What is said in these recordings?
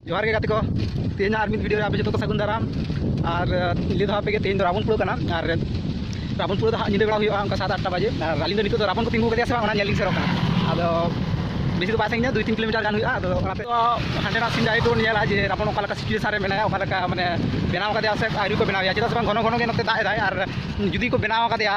ᱡᱚᱦᱟᱨ ᱜᱮ ᱜᱟᱛᱮ ᱠᱚ ᱛᱮᱦᱮᱧ ᱟᱨ ᱢᱤᱫ ᱵᱷᱤᱰᱤᱭᱳ ᱨᱮ ᱟᱯᱮ ᱡᱚᱛᱚ ᱠᱚ ᱥᱟᱹᱜᱩᱱ ᱫᱟᱨᱟᱢ ᱟᱨ ᱞᱟᱹᱭ ᱫᱚ ᱟᱯᱮ ᱜᱮ ᱛᱮᱦᱮᱧ ᱫᱚ ᱨᱟᱵᱚᱱᱯᱩᱨ ᱠᱟᱱᱟ ᱟᱨ ᱨᱟᱵᱚᱱᱯᱩᱨ ᱫᱚ ᱦᱟᱸᱜ ᱧᱤᱫᱟᱹ ᱵᱮᱲᱟ ᱦᱩᱭᱩᱜᱼᱟ ᱚᱱᱠᱟ ᱥᱟᱛ ᱟᱴᱴᱟ ᱵᱟᱡᱮ ᱟᱨ ᱟᱹᱞᱤᱧ ᱫᱚ ᱱᱤᱛᱚᱜ ᱫᱚ ᱨᱟᱵᱚᱱ ᱠᱚ ᱛᱤᱸᱜᱩ ᱠᱟᱫᱮᱭᱟ ᱥᱮ ᱵᱟᱝ ᱚᱱᱟ ᱧᱮᱞ ᱞᱤᱧ ᱥᱮᱱᱚᱜ ᱠᱟᱱᱟ ᱟᱫᱚ ᱵᱮᱥᱤ ᱫᱚ ᱵᱟᱭ ᱥᱟᱺᱜᱤᱧᱟ ᱫᱩᱭ ᱛᱤᱱ ᱠᱤᱞᱳᱢᱤᱴᱟᱨ ᱜᱟᱱ ᱦᱩᱭᱩᱜᱼᱟ ᱟᱫᱚ ᱚᱱᱟᱛᱮ ᱦᱟᱸᱰᱮᱱᱟᱜ ᱥᱤᱱ ᱰᱟᱭᱨᱮᱠᱴ ᱵᱚᱱ ᱧᱮᱞᱟ ᱡᱮ ᱨᱟᱵᱚᱱ ᱚᱠᱟ ᱞᱮᱠᱟ ᱥᱤᱪᱩᱭᱮᱥᱟᱱ ᱨᱮ ᱢᱮᱱᱟᱭᱟ ᱚᱠᱟ ᱞᱮᱠᱟ ᱢᱟᱱᱮ ᱵᱮᱱᱟᱣ ᱠᱟᱫᱮᱭᱟ ᱥᱮ ᱟᱹᱣᱨᱤ ᱠᱚ ᱵᱮᱱᱟᱣᱮᱭᱟ ᱪᱮᱫᱟᱜ ᱥᱮ ᱵᱟᱝ ᱜᱷᱚᱱᱚ ᱜᱷᱚᱱᱚ ᱜᱮ ᱱᱚᱛᱮ ᱫᱟᱜ ᱮᱫᱟᱭ ᱟᱨ ᱡᱩᱫᱤ ᱠᱚ ᱵᱮᱱᱟᱣ ᱠᱟᱫᱮᱭᱟ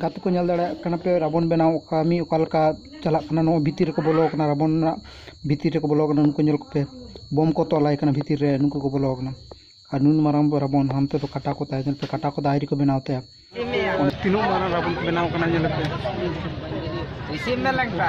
ᱜᱟᱛᱮ ᱠᱚ ᱧᱮᱞ ᱫᱟᱲᱮᱭᱟᱜ ᱠᱟᱱᱟ ᱯᱮ ᱨᱟᱵᱚᱱ ᱵᱮᱱᱟᱣ ᱠᱟᱹᱢᱤ ᱚᱠᱟ ᱞᱮᱠᱟ ᱪᱟᱞᱟᱜ ᱠᱟᱱᱟ ᱱᱚᱣᱟ ᱵᱷᱤᱛᱤᱨ ᱨᱮᱠᱚ ᱵᱚᱞᱚ ᱠᱟᱱᱟ ᱨᱟᱵᱚᱱ ᱨᱮᱱᱟᱜ ᱵᱷᱤᱛᱤᱨ ᱨᱮᱠᱚ ᱵᱚᱞᱚ ᱠᱟᱱᱟ ᱱᱩᱠᱩ ᱧᱮᱞ ᱠᱚᱯᱮ ᱵᱳᱢ ᱠᱚ ᱛᱚᱞ ᱟᱭ ᱠᱟᱱᱟ ᱵᱷᱤᱛᱤᱨ ᱨᱮ ᱱᱩᱠᱩ ᱠᱚ ᱵᱚᱞᱚ ᱠᱟᱱᱟ ᱟᱨ ᱱᱩᱱ ᱢᱟᱨᱟᱝ ᱨᱟᱵᱚᱱ ᱦᱟᱱᱛᱮ ᱫᱚ ᱠᱟᱴᱟ ᱠᱚ ᱛᱟᱭ ᱧᱮᱞ ᱯᱮ ᱠᱟᱴᱟ ᱠᱚᱫᱚ ᱟᱹᱣᱨᱤ ᱠᱚ ᱵᱮᱱᱟᱣ ᱛᱟᱭᱟ ᱛᱤᱱᱟᱹᱜ ᱢᱟᱨᱟᱝ ᱨᱟᱵᱚᱱ ᱠᱚ ᱵᱮᱱᱟᱣ ᱠᱟᱱᱟ ᱧᱮᱞ ᱯᱮ ᱤᱥᱤᱱ ᱢᱮ ᱞᱮᱝᱠᱟ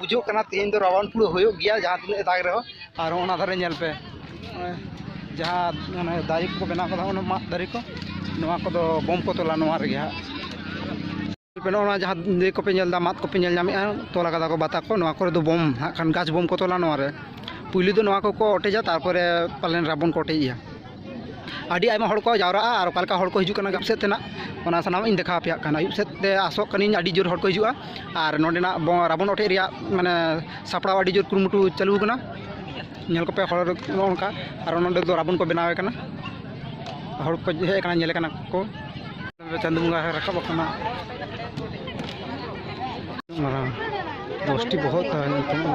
ᱵᱩᱡᱷᱟᱹᱜ ᱠᱟᱱᱟ ᱛᱮᱦᱮᱧ ᱫᱚ ᱨᱟᱵᱟᱝ ᱯᱩᱨᱟᱹ ᱦᱩᱭᱩᱜ ᱜᱮᱭᱟ ᱡᱟᱦᱟᱸ ᱛᱤᱱᱟᱹᱜ ᱫᱟᱜᱽ ᱨᱮᱦᱚᱸ ᱟᱨ ᱚᱱᱟ ᱫᱷᱟᱨᱮ ᱧᱮᱞ ᱯᱮ ᱡᱟᱦᱟᱸ ᱢᱟᱱᱮ ᱫᱟᱨᱮ ᱠᱚᱠᱚ ᱵᱮᱱᱟᱣ ᱠᱟᱫᱟ ᱚᱱᱟ ᱢᱟᱫ ᱫᱟᱨᱮ ᱠᱚ ᱱᱚᱣᱟ ᱠᱚᱫᱚ ᱵᱚᱢ ᱠᱚ ᱛᱚᱞᱟ ᱱᱚᱣᱟ ᱨᱮᱜᱮ ᱦᱟᱸᱜ ᱱᱚᱣᱟ ᱡᱟᱦᱟᱸ ᱤᱭᱟᱹ ᱠᱚᱯᱮ ᱧᱮᱞ ᱮᱫᱟ ᱢᱟᱫ ᱠᱚᱯᱮ ᱧᱮᱞ ᱧᱟᱢᱮᱫᱼᱟ ᱛᱚᱞ ᱠᱟᱫᱟ ᱠᱚ ᱵᱟᱛᱟ ᱠᱚ ᱱᱚᱣᱟ ᱠᱚᱨᱮ ᱫᱚ ᱵᱚᱢ ᱦᱟᱸᱜ ᱠᱷᱟᱱ ᱜᱟᱪᱷ ᱵᱚᱢ ᱠᱚ ᱛᱚᱞᱟ ᱱᱚᱣᱟ ᱨᱮ ᱯᱩᱭᱞᱩ ᱫᱚ ᱱᱚᱣᱟ ᱠᱚᱠᱚ ᱚᱴᱮᱡᱟ ᱛᱟᱨᱯᱚᱨᱮ ᱯᱟᱞᱮᱱ ᱨᱟᱵᱚᱱ ᱠᱚ ᱚᱴᱮᱡᱮᱭᱟ ᱟᱹᱰᱤ ᱟᱭᱢᱟ ᱦᱚᱲ ᱠᱚ ᱡᱟᱣᱨᱟᱜᱼᱟ ᱟᱨ ᱚᱠᱟ ᱞᱮᱠᱟ ᱦᱚᱲ ᱠᱚ ᱦᱤᱡᱩᱜ ᱠᱟᱱᱟ ᱟᱹᱭᱩᱵ ᱥᱮᱫ ᱛᱮᱱᱟᱜ ᱚᱱᱟ ᱥᱟᱱᱟᱢᱟᱜ ᱤᱧ ᱫᱮᱠᱷᱟᱣ ᱟᱯᱮᱭᱟᱜ ᱠᱟᱱᱟ ᱟᱹᱭᱩᱵ ᱥᱮᱫ ᱛᱮ ᱟᱥᱚᱜ ᱠᱟᱹᱱᱟᱹᱧ ᱟᱹᱰᱤ ᱡᱳᱨ ᱦᱚᱲ ᱠᱚ ᱦᱤᱡᱩᱜᱼᱟ ᱟᱨ ᱱᱚᱰᱮᱱᱟᱜ ᱨᱟᱵᱚᱱ ᱚᱴᱮᱡ ᱨᱮᱭᱟᱜ ᱢᱟᱱᱮ ᱥᱟᱯᱲᱟᱣ ᱟᱹᱰᱤ ᱡᱳᱨ ᱠᱩᱨᱩᱢᱩᱴᱩ ᱪᱟᱹᱞᱩ ᱟᱠᱟᱱᱟ ᱧᱮᱞ ᱠᱚᱯᱮ ᱦᱚᱲ ᱱᱚᱜᱼᱚ ᱱᱚᱝᱠᱟ ᱟᱨ ᱱᱚᱰᱮ ᱫᱚ ᱨᱟᱵᱚᱱ ᱠᱚ ᱵᱮᱱᱟᱣᱮ ᱠᱟᱱᱟ ᱦᱚᱲ ᱠᱚ ᱦᱮᱡ ᱟᱠᱟᱱᱟ ᱧᱮᱞᱮ ᱠᱟᱱᱟ ᱠᱚ ᱪᱟᱸᱫᱚ ᱵᱚᱸᱜᱟ ᱨᱟᱠᱟᱵ ᱟᱠᱟᱱᱟ ᱢᱟᱨᱟᱝ ᱫᱚᱥᱴᱤ ᱵᱚᱦᱚᱜ ᱛᱟᱦᱮᱸ ᱞᱮᱱ ᱛᱟᱭᱟ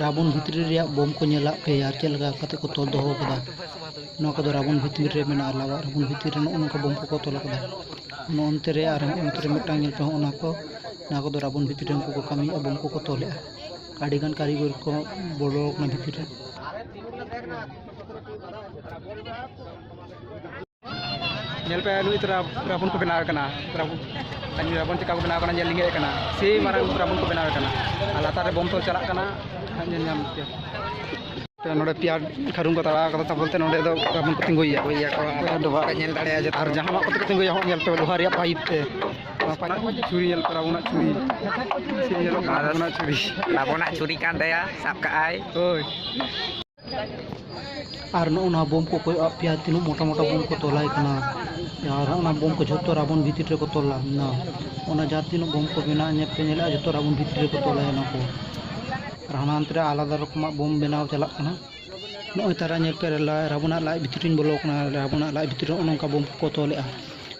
ᱨᱟᱵᱚᱱ ᱵᱷᱤᱛᱨᱤ ᱨᱮᱭᱟᱜ ᱵᱳᱢ ᱠᱚ ᱧᱮᱞᱟᱜ ᱯᱮ ᱟᱨ ᱪᱮᱫ ᱞᱮᱠᱟ ᱠᱟᱛᱮ ᱠᱚ ᱛᱚᱞ ᱫᱚᱦᱚ ᱟᱠᱟᱫᱟ ᱱᱚᱣᱟ ᱠᱚᱫᱚ ᱨᱟᱵᱚᱱ ᱵᱷᱤᱛᱨᱤ ᱨᱮ ᱢᱮᱱᱟᱜᱼᱟ ᱞᱟᱣᱟᱜ ᱨᱟᱵᱚᱱ ᱵᱷᱤᱛᱨᱤ ᱨᱮ ᱱᱚᱜᱼᱚ ᱱᱚᱝᱠᱟ ᱵᱳᱢ ᱠᱚᱠᱚ ᱛᱚᱞ ᱟᱠᱟᱫᱟ ᱱᱚᱜᱼᱚ ᱱᱚᱛᱮ ᱨᱮ ᱟᱨ ᱦᱚᱸ ᱱᱚᱛᱮ ᱨᱮ ᱢᱤᱫᱴᱟᱝ ᱧᱮᱞ ᱯᱮ ᱦᱚᱸᱜᱼᱚ ᱱᱚᱣᱟ ᱠᱚ ᱱᱚᱣᱟ ᱠᱚᱫᱚ ᱨᱟᱵᱚᱱ ᱵᱷᱤᱛᱨᱤ ᱨᱮ ᱩᱱᱠᱩ ᱠᱚ ᱠᱟᱹᱢᱤᱭᱮᱫᱼᱟ ᱵᱳᱢ ᱠᱚᱠᱚ ᱛᱚᱞᱮᱫᱼᱟ ᱟᱹᱰᱤ ᱜᱟᱱ ᱠᱟᱹᱨᱤᱜᱚᱨ ᱠᱚ ᱵᱚᱞᱚ ᱟᱠᱟᱱᱟ ᱵᱷᱤᱛᱨᱤ ᱨᱮ ᱧᱮᱞ ᱯᱮ ᱱᱩᱭ ᱛᱚᱨᱟ ᱨᱟᱵᱚᱱ ᱠᱚ ᱵᱮᱱᱟᱣ ᱠᱟᱱᱟ ᱨᱟᱵᱚᱱ ᱨᱟᱵᱚᱱ ᱪᱮᱠᱟ ᱠᱚ ᱵᱮᱱᱟᱣ ᱠᱟᱱᱟ ᱧᱮᱞ ᱞᱤᱧ ᱠᱟᱱᱟ ᱥᱮ ᱢᱟᱨᱟᱝ ᱨᱟᱵᱚᱱ ᱠᱚ ᱵᱮᱱᱟᱣ ᱠᱟᱱᱟ ᱟᱨ ᱞᱟᱛᱟᱨ ᱨᱮ ᱵᱚᱢ ᱛᱚᱞ ᱪᱟᱞᱟᱜ ᱠᱟᱱᱟ ᱧᱮᱞ ᱧᱟᱢ ᱯᱮ ᱛᱚ ᱱᱚᱰᱮ ᱯᱮᱭᱟ ᱠᱷᱟᱨᱩᱱ ᱠᱚ ᱛᱟᱲᱟᱣ ᱠᱟᱫᱟ ᱛᱟᱵᱚᱞ ᱛᱮ ᱱᱚᱰᱮ ᱫᱚ ᱨᱟᱵᱚᱱ ᱠᱚ ᱛᱤᱸᱜᱩᱭᱟ ᱜᱚᱭᱟ ᱠᱚ ᱟᱨ ᱰᱚᱵᱷᱟᱜ ᱧᱮᱞ ᱫᱟᱲᱮᱭᱟᱜᱼᱟ ᱡᱮ ᱟᱨ ᱡᱟᱦᱟᱱᱟᱜ ᱠᱚᱛᱮ ᱠᱚ ᱛᱤᱸᱜᱩᱭᱟ ᱦᱚᱸ ᱧᱮᱞ ᱯᱮ ᱞᱳᱦᱟ ᱨᱮᱭᱟᱜ ᱯᱟᱭᱤᱯ ᱛᱮ ᱪᱩᱨᱤ ᱧᱮᱞ ᱯᱮ ᱨᱟᱵᱚᱱᱟᱜ ᱪᱩᱨᱤ ᱪᱮᱫ ᱧᱮᱞᱚᱜ ᱠᱟᱱᱟ ᱨᱟᱵᱚᱱᱟᱜ ᱪᱩᱨᱤ ᱨᱟᱵᱚᱱᱟᱜ ᱪᱩᱨᱤ ᱠᱟᱱ ᱛᱟᱭᱟ ᱥᱟᱵ ᱠᱟᱜᱼᱟᱭ ᱦᱳᱭ ᱟᱨ ᱱᱚᱜᱼᱚ ᱱᱚᱣᱟ ᱵᱳᱢ ᱠᱚ ᱠᱚᱭᱚᱜ ᱟᱫ ᱯᱮᱭᱟ ᱛᱤᱱᱟᱹᱜ ᱢᱚᱴᱟ ᱢᱚᱴᱟ ᱵᱳᱢ ᱠᱚ ᱛᱚᱞᱟᱭ ᱠᱟᱱᱟ ᱟᱨ ᱚᱱᱟ ᱵᱳᱢ ᱠᱚ ᱡᱷᱚᱛᱚ ᱨᱟᱵᱚᱱ ᱵᱷᱤᱛᱤᱨ ᱨᱮᱠᱚ ᱛᱚᱞ ᱞᱟᱫᱱᱟ ᱚᱱᱟ ᱡᱟᱦᱟᱸ ᱛᱤᱱᱟᱹᱜ ᱵᱳᱢ ᱠᱚ ᱢᱮᱱᱟᱜᱼᱟ ᱧᱮᱞ ᱯᱮ ᱧᱮᱞᱮᱫᱼᱟ ᱡᱷᱚᱛᱚ ᱨᱟᱵᱚᱱ ᱵᱷᱤᱛᱤᱨ ᱨᱮᱠᱚ ᱛᱚᱞᱟᱭ ᱚᱱᱟ ᱠᱚ ᱟᱨ ᱦᱟᱱᱟ ᱦᱟᱱᱛᱮ ᱨᱮ ᱟᱞᱟᱫᱟ ᱨᱚᱠᱚᱢᱟᱜ ᱵᱳᱢ ᱵᱮᱱᱟᱣ ᱪᱟᱞᱟᱜ ᱠᱟᱱᱟ ᱱᱚᱜᱼᱚᱭ ᱛᱟᱨᱟ ᱧᱮᱞ ᱯᱮ ᱨᱟᱵᱚᱱᱟᱜ ᱞᱟᱡ ᱵᱷᱤᱛᱤᱨ ᱨᱤᱧ ᱵᱚᱞᱚ ᱟᱠᱟᱱᱟ ᱨᱟᱵᱚᱱᱟᱜ ᱞᱟᱡ ᱵᱷᱤᱛᱤᱨ ᱨᱮ ᱱᱚᱜᱼᱚ ᱱᱚᱝᱠᱟ ᱵᱳᱢ ᱠᱚᱠᱚ ᱛᱚᱞᱮᱫᱼᱟ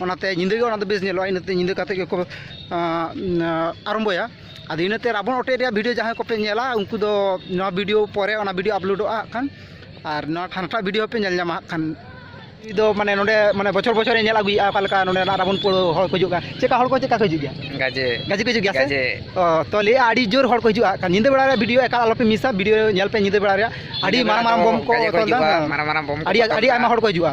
ᱚᱱᱟᱛᱮ ᱧᱤᱫᱟᱹ ᱜᱮ ᱚᱱᱟᱫᱚ ᱵᱮᱥ ᱧᱮᱞᱚᱜᱼᱟ ᱤᱱᱟᱹᱛᱮ ᱧᱤᱫᱟᱹ ᱠᱟᱛᱮᱫ ᱜᱮᱠᱚ ᱟᱨᱟᱢᱵᱚᱭᱟ ᱟᱫᱚ ᱤᱱᱟᱹᱛᱮ ᱨᱟᱵᱚᱱ ᱚᱴᱮᱡ ᱨᱮᱭᱟᱜ ᱵᱷᱤᱰᱭᱳ ᱡᱟᱦᱟᱸᱭ ᱠᱚᱯᱮ ᱧᱮᱞᱟ ᱩᱱᱠᱩ ᱫᱚ ᱱᱚᱣᱟ ᱵᱷᱤᱰᱭᱳ ᱯᱚᱨᱮ ᱚᱱᱟ ᱵᱷᱤᱰᱭᱳ ᱟᱯᱞᱳᱰᱚᱜᱼᱟ ᱦᱟᱸᱜ ᱠᱷᱟᱱ ᱟᱨ ᱱᱚᱣᱟ ᱦᱟᱱᱟᱴᱟᱜ ᱵᱷᱤᱰᱭᱳ ᱦᱚᱸᱯᱮ ᱧᱮᱞ ᱧᱟᱢᱟ ᱦᱟᱸᱜ ᱠᱷᱟᱱ ᱩᱱᱤ ᱫᱚ ᱢᱟᱱᱮ ᱱᱚᱰᱮ ᱢᱟᱱᱮ ᱵᱚᱪᱷᱚᱨ ᱵᱚᱪᱷᱚᱨᱮ ᱧᱮᱞ ᱟᱹᱜᱩᱭᱮᱫᱼᱟ ᱚᱠᱟ ᱞᱮᱠᱟ ᱱᱚᱰᱮᱱᱟᱜ ᱨᱟᱵᱚᱱ ᱯᱩᱨᱟᱹ ᱦᱚᱲ ᱠᱚ ᱦᱤᱡᱩᱜᱼᱟ ᱪᱮᱫ ᱞᱮᱠᱟ ᱦᱚᱲ ᱠᱚ ᱪᱮᱫ ᱞᱮᱠᱟ ᱠᱚ ᱦᱤᱡᱩᱜ ᱜᱮᱭᱟ ᱜᱟᱡᱮ ᱜᱟᱡᱮ ᱠᱚ ᱦᱤᱡᱩᱜ ᱜᱮᱭᱟ ᱥᱮ ᱚ ᱛᱚ ᱞᱟᱹᱭᱮᱫᱼᱟ ᱟᱹᱰᱤ ᱡᱳᱨ ᱦᱚᱲ ᱠᱚ ᱦᱤᱡᱩᱜᱼᱟ ᱦᱟᱸᱜ ᱠᱷᱟᱱ ᱧᱤᱫᱟᱹ ᱵᱮᱲᱟ ᱨᱮ ᱵᱷᱤᱰᱭᱳ ᱮᱠᱟᱞ ᱟᱞᱚᱯᱮ ᱢᱤᱥᱟ ᱵᱷᱤᱰᱭᱳ ᱧᱮᱞ ᱯᱮ ᱧᱤᱫᱟᱹ ᱵᱮᱲᱟ ᱨᱮᱭᱟᱜ ᱟᱹᱰᱤ ᱢᱟᱨᱟᱝ ᱢᱟᱨᱟᱝ ᱵᱳᱢ ᱠᱚ ᱛᱚᱞᱫᱟ ᱟᱹᱰᱤ ᱟᱹᱰᱤ ᱟᱭᱢᱟ ᱦᱚᱲ ᱠᱚ ᱦᱤᱡᱩᱜᱼᱟ